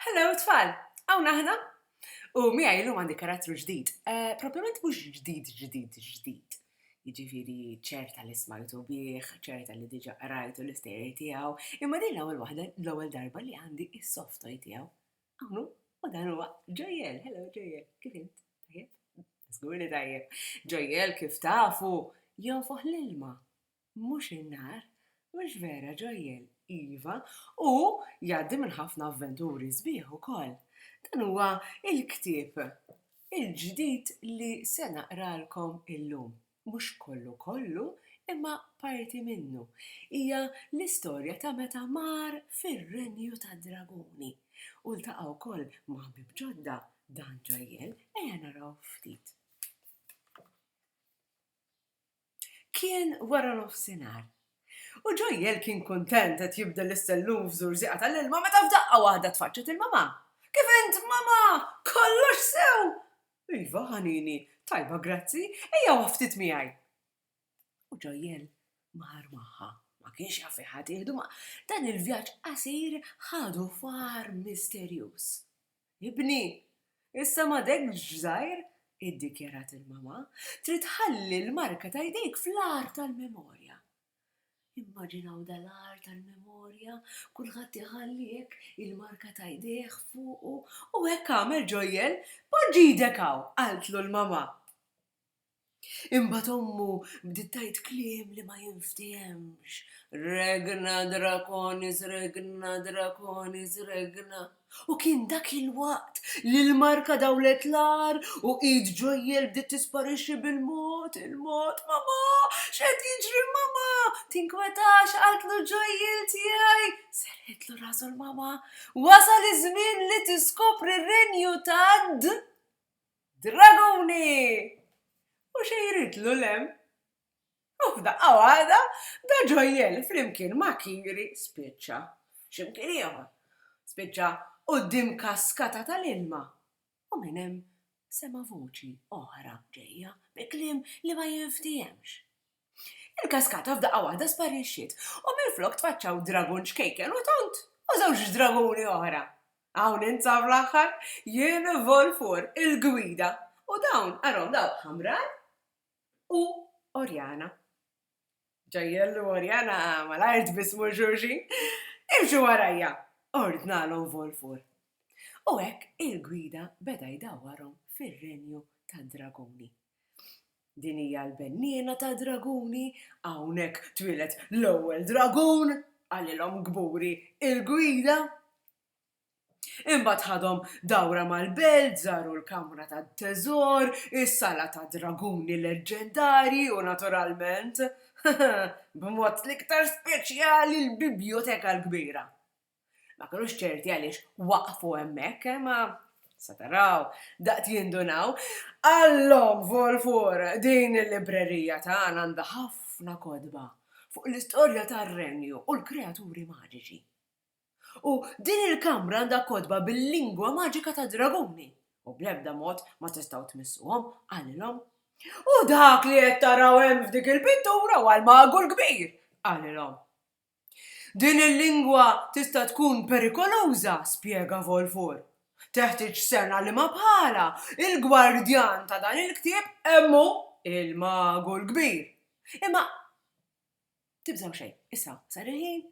Hello tfal! Hawn aħna! U miegħi illum għandi karattru ġdid. Eh, propjament mhux ġdid ġdid ġdid. Jiġifieri ċerta li smajtu bih, ċerta li diġà qrajtu l-istejjer tiegħu, imma din l-ewwel waħda l-ewwel darba li għandi is-soft toy tiegħu. Hawn u dan huwa Ġojjel, hello Ġojjel, kif int? Tajjeb? Żgur li tajjeb. Ġojjel kif tafu jonfoħ l-ilma. Mhux in-nar? Mhux vera, Joel? Iva, u jgħaddi minn ħafna avventuri sbieħ ukoll. Dan huwa l-ktieb il-ġdid li se naqralkom illum. Mhux kollu kollu, imma parti minnu. Hija l-istorja ta' meta mar fir-renju tad-draguni u ltaqa' wkoll ma' ħbieb ġodda, dan Joel. Ejja naraw ftit. Kien waranofsinhar, u Ġojjel kien kuntent qed jibdel is-sellum f'żurżieqa tal-ilma meta f'daqqa waħda tfaċċet il-mamà. Kif int, mamà? Kollox sew? Iva, ħanini. Tajba, grazzi. Ejja waqaf ftit miegħi. U Ġojjel mar magħha. Ma kienx jaf fejn ħa tieħdu, ma dan il-vjaġġ qasir ħadu f'għar misterjuż. Ibni, issa m'għadekx żgħir, iddikjarat il-mama, trid tħalli l-marka ta' jdejk fl-għar tal-memorja. Immaġinaw dal-għar tal-memorja, kulħadd iħalli hekk il-marka ta' jdejh fuqu u hekk għamel Ġojjel. Poġġi jdek hawn, qaltlu l-mama. Imbagħad ommu bdiet tgħid kliem li ma jinftehemx, Regna Draconis, Regna Draconis, Regna. U kien dak il-waqt li l-marka dawlet l-agħar u id Ġojjel bdiet tisparixxi bil-mod il-mod. Mamà! X'qed jiġri mamà? Tinkwetax, qaltlu Ġojjel tiegħi. Serrħitlu rasu l-mamà. Wasal iż-żmien li tiskopri r-Renju tad. Draguni! U xi jridlu 'l hemm? U f'daqqa waħda da ġojjel flimkien ma' Kiri spiċċa x'imkien ieħor. Spiċċa quddiem kaskata tal-ilma u minn hemm sema' voċi oħra ġejja bi kliem li ma jinfthiemx. Il-kaskata f'daqqa waħda sparixxiet u minflok tfaċċaw dragun ċkejken u tond u żewġ draguni oħra. Hawn int sar fl-aħħar, jien Volfur, il-gwida, u dawn għarhom dawk Hamran u Orjana. Ġajjel u Orjana malajr tbissmu xulxin. Imxu warajja! ordnalhom Volfur. U hekk il-gwida beda jdawwarhom fir-renju tad-draguni. Din hija l-benniena tad-draguni, hawnhekk twieled l-ewwel dragun, qalilhom kburi l-gwida. Imbagħad ħadhom dawra mal-belt, żaru l-kamra tat-teżor, is-sala tad-draguni leġġendarji u naturalment, b'mod l-iktar speċjali l-bibljoteka l-kbira. Ma kinux ċerti għaliex waqfu hemmhekk, imma, se taraw, daqt jindunaw, Allhom Volfur, din il-librerija tagħna għandha ħafna kotba fuq l-istorja tar-Renju u l-kreaturi maġiċi. U din il-kamra għandha kotba bil-lingwa maġika tad-draguni, u bl-ebda mod ma tistgħu tmissuhom, qalilhom. U dak li qed taraw hemm f'dik il-pittura huwa l-Magu l-Kbir, qalilhom. Din il-lingwa tista' tkun perikoluża, spjega Volfor. Teħtieġ sena liema bħala, il-gwardjan ta' dan il-ktieb hemm hu, il-magu l-kbir. Imma tibżgħu xejn, issa sar il-ħin,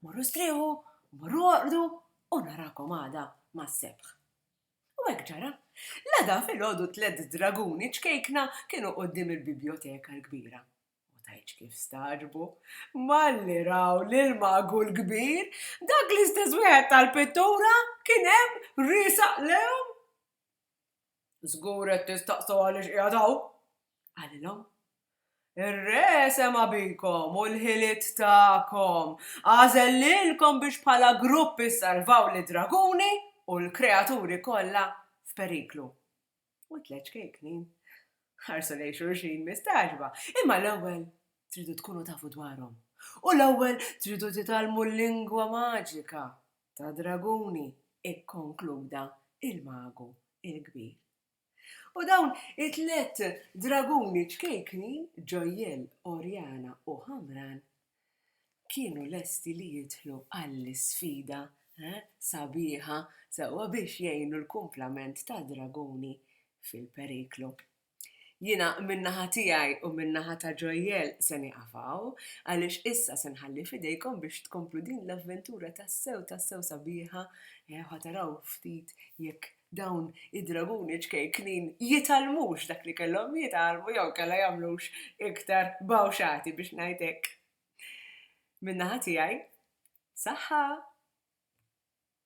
morru strieħu, morru orqdu u narakom għada mas-sebħ. U hekk ġara. L-għada filgħodu tliet draguni ċkejkna kienu quddiem il-bibjoteka l-kbira. Ma tgħidx kif stagħġbu malli raw lill-Magu l-Kbir, dak l-istess wieħed tal-pittura kien hemm riesaq lejhom. Żgur qed tistaqsu għaliex qiegħed hawn, qalilhom. Ir-Re sema' bikom u l-ħiliet tagħkom. Għażel lilkom biex bħala grupp issalvaw lid-draguni u l-kreaturi kollha f'periklu. u t-tliet ċkejkni ħarsu lejn xulxin mistagħġba. Imma l-ewwel tridu tkunu tafu dwarhom. U l-ewwel tridu titgħallmu l-lingwa maġika ta' draguni, ikkonkluda il-magu il-kbir. U dawn it-tliet draguni ċkejknin, Ġojjel, Orjana u Ħamran, kienu lesti li jidħlu għall-isfida sabiħa sewwa biex jgħinu l-kumplament tad-draguni fil-periklu. Jiena min-naħa tiegħi u min-naħa ta' Joel se nieqaf hawn, għaliex issa se nħalli f'idejkom biex tkomplu din l-avventura tassew tassew sabiħa, ħa taraw ftit jekk Dawn id-draguni ċkejknin jitgħallmux dak li kellhom jitgħallmu jew inkella jagħmlux iktar bawxati biex ngħid hekk. Min-naħa tiegħi, saħħa!